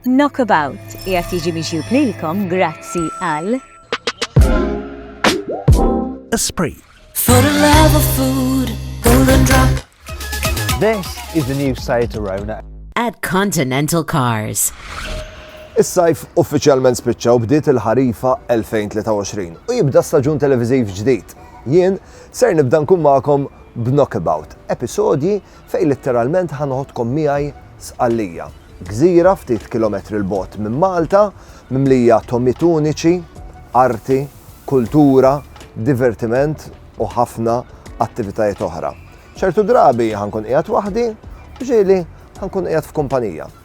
Knockabout qiegħed jiġi miġjub lilkom grazzi għal. Esprit. For the love of food, golden drop. This is the new Seat Arona. At Continental Cars. Is-sajf uffiċjalment spiċċa u bdiet il-ħarifa 2023 u jibda staġun televiżiv ġdid. Jien ser nibda nkun magħkom b'Knockabout, episodji Fejn litteralment ħa noħodkom miegħi Sqallija, gżira ftit kilometri 'l bogħod minn Malta, mimlija togħmiet uniċi, arti, kultura, divertiment u ħafna attivitajiet oħra. Ċertu drabi ħa nkun qiegħed waħdi u ġieli ħa nkun qiegħed f'kumpanija.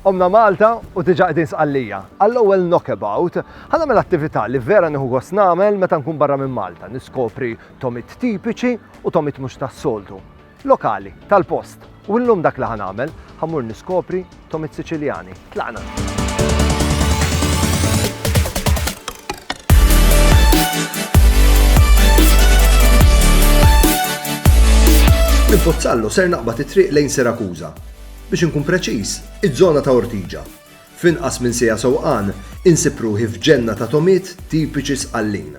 Omna Malta u diġa qegħdin sqallija. Għall-ewwel knockabout, ħana mela attività li vera nieħu gost nagħmel meta nkun barra minn Malta, niskopri tomit tipiċi u tomit mhux tas-soltu. Lokali, tal-post. U llum dak li ħa nagħmel, ħa mmur niskopri tomit Siċiljani. Tlaqna! Minn Pozzallo ser naqbad it-triq lejn Sirakuża. Biex inkun preċiż, iż-żona ta' Ortiġa. F'inqas minn sija sewqan, insib ruħi f'ġenna ta' tomiet tipiċi sqallin.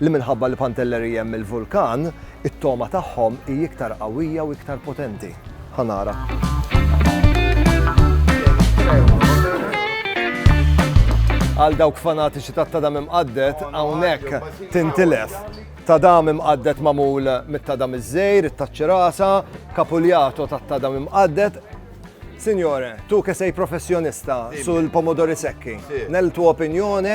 li minħabba li Pantellerie hemm il-vulkan, it-togħma tagħhom hi iktar qawwija u iktar potenti. Ħa nara. Għal dawk fanatiċi ta' tadam imqaddet, hawnhekk tintilef. Tadam imqaddet mamul mit-tadam iż-żejr, it-taċċirasa, kapuljato ta' tadam imqaddet. Signore, tu ke sej professjonista sul pomodori sekki, nel tu opinjone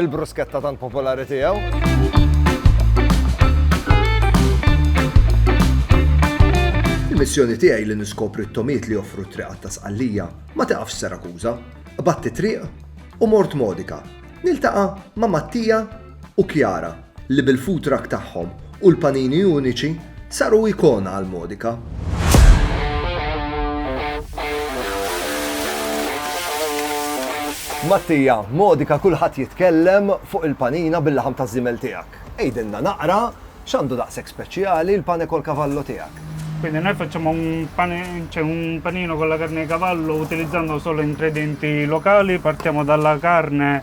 Il-brusketta tant popolari tiegħu. Il-missjoni tiegħi li niskopri t-tomiet li joffru t-triqat ta' Sqallija ma taqafx Serakuża. Batti triq u mort Modika. Niltaqa' ma' Mattija u Kjara li bil-food truck tagħhom u l-panini uniċi saru ikona għal Modica. Mattia, Modica kulħadd jitkellem fuq il-panina bil-laħam taż-żiemel tiegħek. Għidilna naqra x'għandu daqshekk speċjali l-pane col cavallo tiegħek? Quindi noi facciamo un, pane, cioè un panino con la carne di cavallo utilizzando solo ingredienti locali, partiamo dalla carne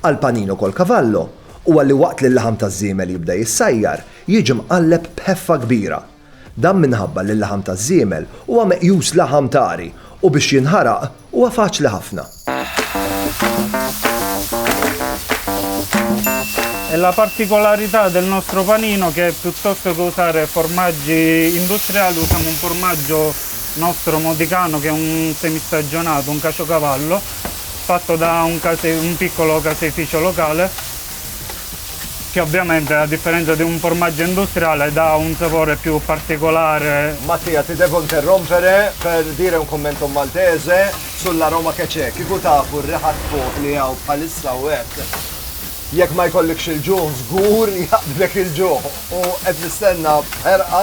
Għal Panino col Cavallo huwa li waqt li l-laħam taż-żiemel jibda jissajjar, jiġi mqalleb b'ħeffa kbira. Dan minħabba li l-laħam taż-żiemel huwa meqjus laħam tari u biex jinħaraq huwa faċli ħafna. E la particolarità del nostro panino che piuttosto che usare formaggi industriali usiamo un formaggio nostro modicano che è un semistagionato, un caciocavallo, fatto da un, case, un piccolo caseificio locale che ovviamente a differenza di un formaggio industriale dà un sapore più particolare. Mattia, ti devo interrompere per dire un commento maltese sull'aroma che c'è. Kieku tafu r-riħa fuq li hawn bħalissa u hekk. Jekk ma jkollikx il-ġuħ żgur jaqbdlek il-ġuħ u qed nistenna b'ħerqa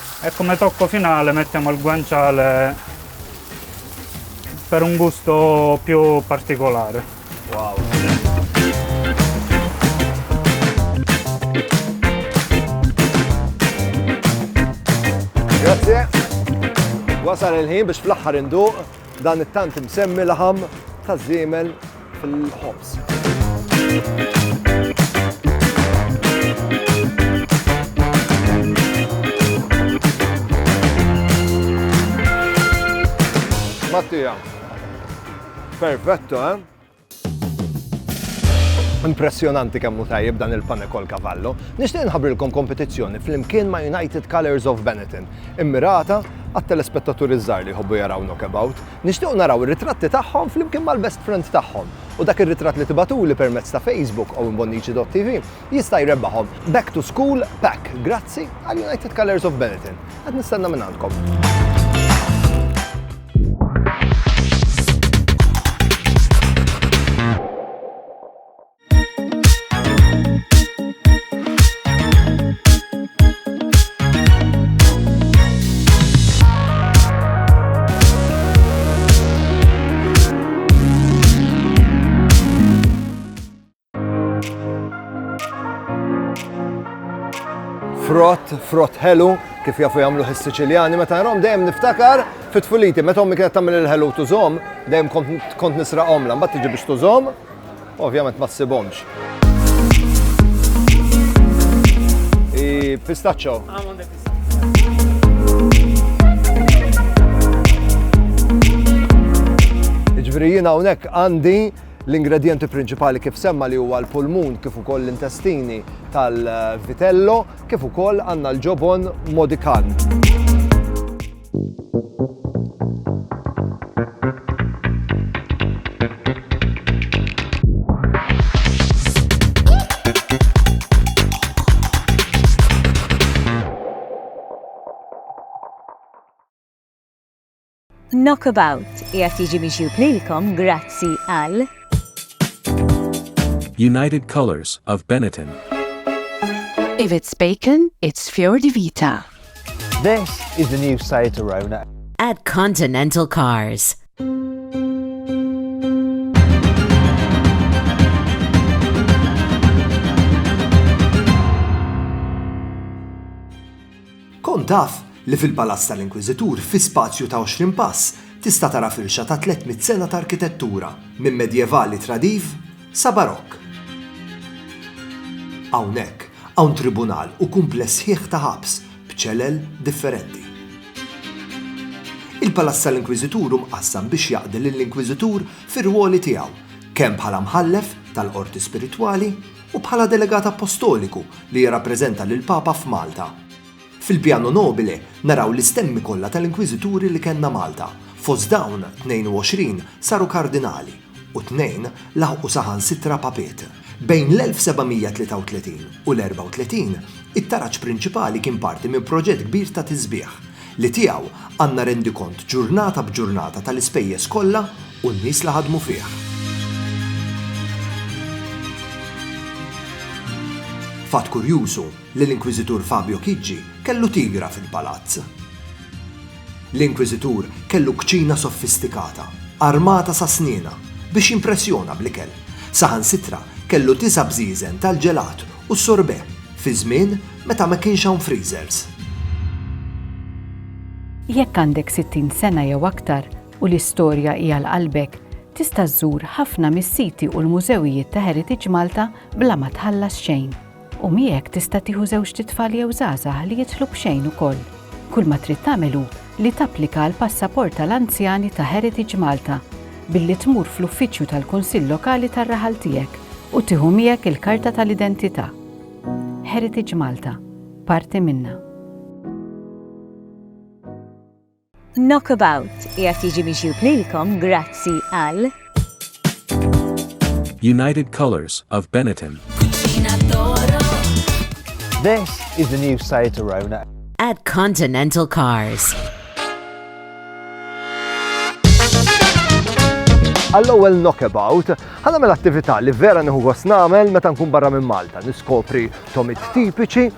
E come tocco finale mettiamo il guanciale per un gusto più particolare. Wow! Grazie. Wasal il-ħin biex fl-aħħar induq dan it-tant imsemmi laħam ta' żiemel Mattia. Perfetto, eh? Impressjonanti kemm hu tajjeb dan il-pane kol kavallo. Nixtieq nħabrilkom kompetizzjoni flimkien ma' United Colors of Benetton, immirata għat-telespettaturi żgħar li jħobbu jaraw knockabout. Nixtiequ naraw ir-ritratti tagħhom flimkien mal-best friend tagħhom u dak ir-ritratt li tibagħtuli permezz ta' Facebook owenbonnici.tv jista' jrebbaħhom Back to School Pack grazzi għal United Colours of Benetton. Qed nistenna minn għandkom. frott, frott ħelu, kif jafu jagħmlu is-Siċiljani, meta nrom dejjem niftakar fit-tfuliti, meta ommi kienet tagħmel il-ħelu tużom, dejjem kont nisra omla, mbagħad tiġi biex tużom, Ovvjament ma ssibhomx. I pistaccio. Ġifieri jiena hawnhekk għandi l-ingredienti prinċipali kif semma li huwa l-pulmun kif ukoll l-intestini tal-vitello kif ukoll għandna l-ġobon modikan. Knockabout qiegħed jiġi mixjub lilkom grazzi għal United Colors of Benetton. If it's bacon, it's Fior di Vita. This is the new Seat Arona. At Continental Cars. Kont taf li fil-Palazz tal-Inkwiżitur fi spazju ta' 20 pass tista' tara firxa ta' 300 sena ta' arkitettura minn medjevali tradiv Sa Barokk. Hawnhekk hawn tribunal u kumpless sħiħ ta' ħabs b'ċelel differenti. Il-palazz tal-Inkwiżitur hu mqassam biex jaqdi lill-Inkwiżitur fir-rwoli tiegħu kemm bħala Mħallef tal-Qorti Spiritwali u bħala Delegat Appostoliku li jirrappreżenta lill-Papa f'Malta. Fil-Piano Nobile naraw l-istemmi kollha tal-Inkwiżituri li kellna Malta, fost dawn 22 saru Kardinali u tnejn laħqu saħansitra Papiet. Bejn l-1733 u l-34, it-taraġ prinċipali kien parti minn proġett kbir ta' tisbiħ, li tiegħu għandna rendikont ġurnata b'ġurnata tal-ispejjeż kollha u n-nies li ħadmu fih. Fatt kurjuż hu, li l-Inkwiżitur Fabio Chigi kellu tigra fil-palazz. L-Inkwiżitur kellu kċina sofistikata, armata sa snina, biex jimpressjona bl-ikel. Saħansitra kellu disa' bżieżen tal-ġelat u s-sorbet fi żmien meta ma kienx hawn freezers. Jekk għandek sittin sena jew aktar u l-istorja hi għal qalbek, tista' żżur ħafna mis-siti u l-mużewijiet ta' Heritage Malta bla ma tħallas xejn. U miegħek tista' tieħu żewġt itfal jew żgħażagħ li jidħlu b'xejn ukoll. Kull ma trid tagħmel hu li tapplika għal passaport tal-anzjani ta' Heritage Malta billi tmur fl-uffiċċju tal-Kunsill Lokali tar-raħal tiegħek u tieħu miegħek il-karta tal-identità. Heritage Malta, parti minna. Knockabout qiegħed jiġi miġjub lilkom grazzi għal. United Colours of Benetton. This is the new Seat Arona. At Continental Cars. Għall-ewwel knockabout, ħana mill-attività li vera nieħu gost nagħmel meta nkun barra minn Malta, niskopri tomit tipiċi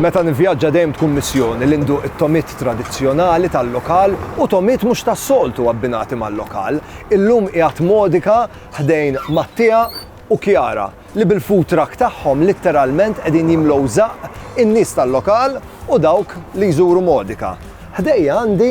Meta nivvjaġġa dejjem tkun missjoni li nduq it-tomit tradizzjonali tal-lokal u tomit mhux tas-soltu abbinati mal-lokal. Illum qiegħed modika ħdejn Mattia u Kjara li bil-food truck tagħhom litteralment qegħdin jimlow żaqq in-nies tal-lokal u dawk li jżuru Modika. Ħdejja għandi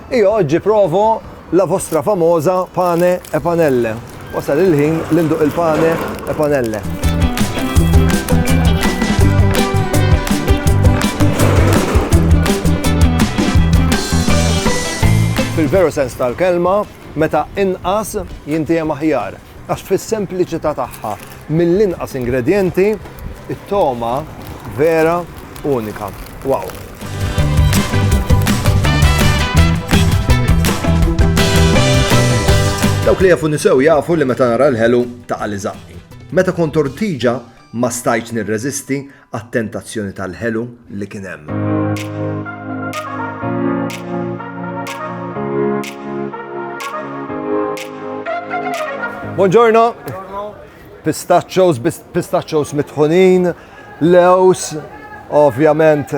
Io oggi provo la vostra famosa pane e panelle. Wasal il-ħin li nduq il-pane e panelle. fil-veru sens tal-kelma, meta inqas jintijem aħjar. Għax fis-sempliċità tagħha, mill-inqas ingredjenti, it-togħma vera unika. Wow! Dawk li jafu nisew jafu li meta nara l-ħelu ta' li Meta kont ortiġa ma stajt nirreżisti għat-tentazzjoni tal-ħelu li kien hemm. Buongiorno. Pistachos, pistachos mitħunin, lews, ovvjament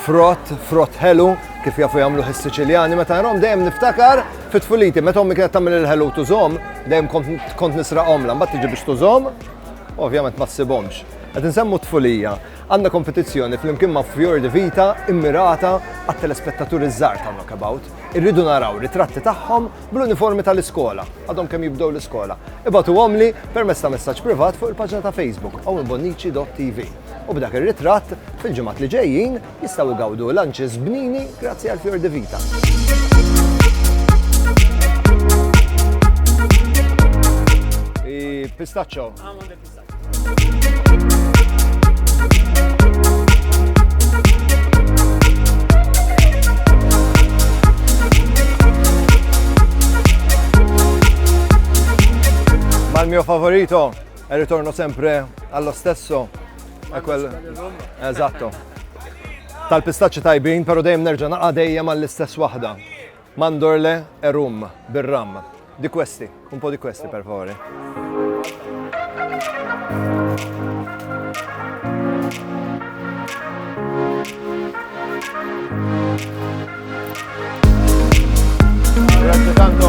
frott, frott ħelu, kif jafu jagħmlu ħis-Siċiljani, meta għarom dejjem niftakar fit-tfuliti, meta ommi kienet tagħmel il-ħelu tużhom, dejjem kont nisraqhom la mbagħad tiġi biex tużhom, ovvjament ma ssibhomx. Qed insemmu t-tfulija. Għandna kompetizzjoni flimkien ma' Fjordi Vita immirata għat-telespettaturi ż-żgħar ta' Knockabout. Irridu naraw ritratti tagħhom bl-uniformi tal-iskola, għadhom kemm jibdew l-iskola. Ibagħtuhomli permezz ta' messaġġ privat fuq il-paġna ta' Facebook owenbonnici.tv. U b'dak ir-ritratt, fil-ġimgħat li ġejjin, jistgħu jgawdu lunches bnini grazzi għal Fjordi Vita. Hi pistachio. Mal mio favorito e ritorno sempre allo stesso. È quel... Esatto. Tal-pistaċċi tajbin, pero dejjem nerġa' naqa' dejjem għall-istess waħda. Mandorle e rum, bir-ram. Di questi, un po' di questi per favore. Grazie tanto.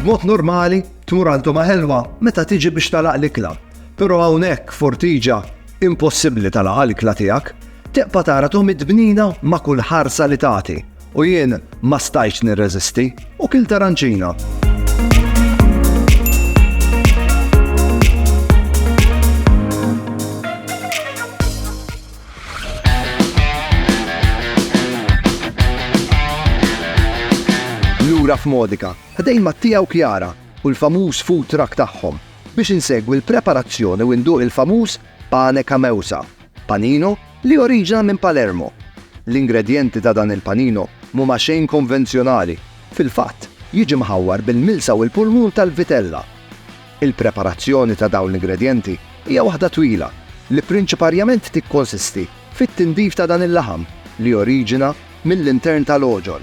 B'mod normali, tmur għal tuma ħelwa meta tiġi biex talaq l-ikla. Però hawnhekk f'Ortigia, impossibbli tagħlaqha l-ikla tiegħek, tibqa' tara Tom id-dbnina ma' kull ħarsa li tagħti u jien ma stajtx nirreżisti u kilt aranċina. lura f'Modika, ħdejn Mattia u Kjara, u l-famuż food truck tagħhom biex insegwi l-preparazzjoni u nduq il-famuż pane cameusa, panino li joriġina minn Palermo. L-ingredjenti ta' dan il-panino mhuma xejn konvenzjonali, fil-fatt jiġi mħawwar bil-milsa u l-pulmun tal-vitella. Il-preparazzjoni ta' dawn l-ingredjenti hija waħda twila li prinċiparjament tikkonsisti fit-tindif ta' dan il-laħam li joriġina mill-intern tal-għoġol.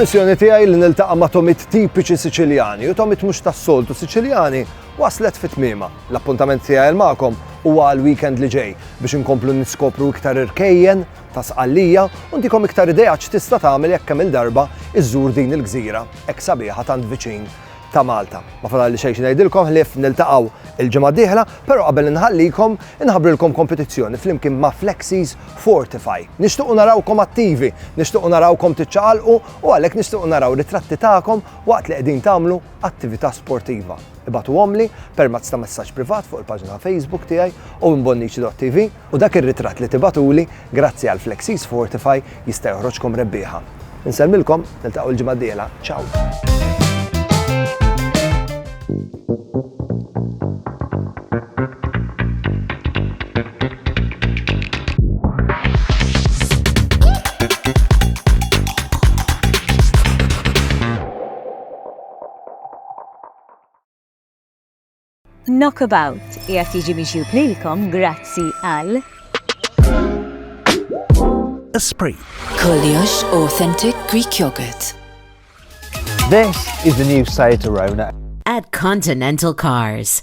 Il-missjoni tiegħi li niltaqa' ma' tomit tipiċi Siċiljani u tomit mhux tas-soltu Siċiljani waslet fit tmiema. L-appuntament tiegħi magħkom huwa għal weekend li ġej biex inkomplu niskopru iktar irkejjen ta' Sqallija u ntikom iktar idea x'tista' tagħmel jekk kemm-il darba iżżur din il-gżira hekk sabiħa tant viċin ta' Malta. Ma fadalli xejn xi ngħidilkom ħlief niltaqgħu il-ġimgħa d-dieħla, però qabel inħallikom inħabbrilkom kompetizzjoni flimkien ma' Flexies Fortify. Nixtiequ narawkom attivi, nixtiequ narawkom tiċċaqalqu u għalhekk nixtiequ naraw ritratti tagħkom waqt li qegħdin tagħmlu attività sportiva. Ibagħtuhomli permezz ta' messaġġ privat fuq il-paġna ta' Facebook tiegħi, owenbonnici.tv. U dak ir-ritratt li tibagħtuli, grazzi għal Flexis Fortify, jista' joħroġkom rebbieħa. Insellmilkom, niltaqgħu l-ġimgħa d-dieħla. Ciao! Knockabout qiegħed jiġi miġjub lilkom grazzi għal Esprit. Koljox Authentic Greek Yogurt. This is the new Seat Arona. At Continental Cars.